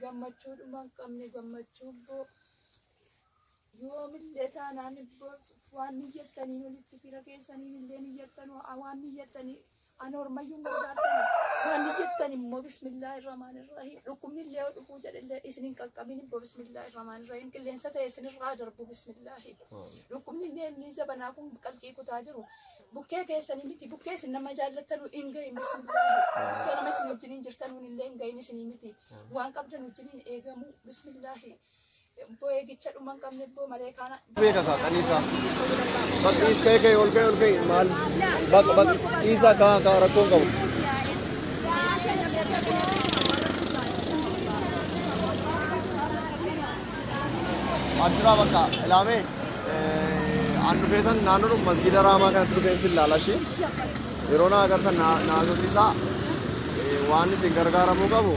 gammachuu dhuma hin qabne gammachuu boo yoomillee taanaan boo waan niyyattaniin olitti fira keessaniin illee niyyattan waan niyyattanii an hormayyuun gargaartan waan niyyattan immoo bismillah irramaan irrahim dhukkubni illee yoo dhufuu jedhellee isin hin qaqqabin immoo bismillah irramaan irrahim qilleensa ta'e isin irraa darbu bismillah dhukkubni illee inni jabanaa kun qalqii kutaa jiru Bukkee keessanii miti bukkee isin nama jaallattanuu hin gahin isin bukkee nama isin wajjiniin jirtanuun illee hin gahin isinii miti waan qabdan wajjiniin eegamuu bismillaahi ibboo eegicha dhuma hin qabne ibboo malee kaana beeka kaa kan isaa bak dhiis ka'ee ka'ee ol ka'ee ol ka'ee maal bak bak dhiisaa kaa kaa rakkoon qabu Abshiraa bakka ilaamee an dhufeetan naannoodhuma masgiida raamaa kanatti dhufeen sin laala ishee yeroo na agartan na agarsiisaa waan isin gargaaramuu qabu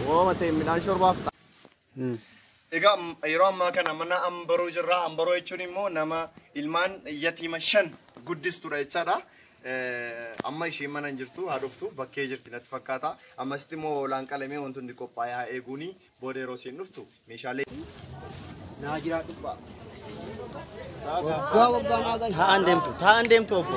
waama ta'e midhaan shorbaaf ta'a. Egaa yeroo ammaa kana mana ambaruu jirra. Ambaruu jechuun immoo nama ilmaan yatiima shan guddistudha jechaadha. Amma isheen mana hin jirtu haa dhuftu bakkee jirti natti fakkaata. Ammasitti immoo hoolaan qalamee wanti hundi qophaa'ee haa eeguuni. Booda yeroo isiin dhuftu meeshaalee. Naa jiraa dhubbaa. Waggaa waggaa naa gahi. Taa'an deemtu, taa'an deemtu obbo.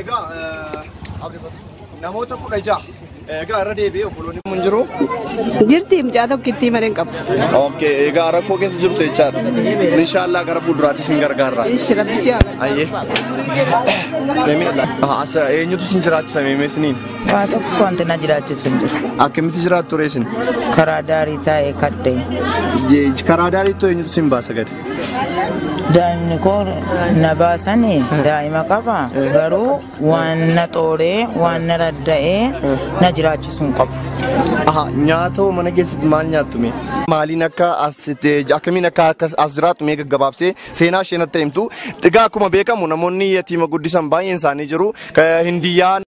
Egaa namoota kudha ja'a. Egaa irra deebi'ee obboloonni mun jiru. Jirti mucaa tokkittii malee hin qabu. Okay, egaa rakkoo keessa jirtu jechaadha. Inshaallah gara fuulduraatti isin gargaarra. Ishi rabbi si haa. Ayyee. Deemina laata. As eenyutu isin jiraachisa meemee isiniin? Waa tokko wanti na jiraachisu hin jiru. Akkamitti jiraattu reesin? Karaa daarii taa'ee kadhee. Karaa daariitti eenyutu isin baasa gadi? Daa'imni koo na baasani daa'ima qaba garuu waan na xooree waan na radda'ee na jiraachisuu hin qabu. Aha, nyaata hoo mana keessatti maal nyaattu mee? Maaliin akka as itti akkamiin akka akkas as jiraattu mee gaggabaabsee seenaa isheen akka himtu. Egaa akkuma beekamu namoonni yatiima guddisan baay'een isaanii jiru. Ka- Hindiyyaa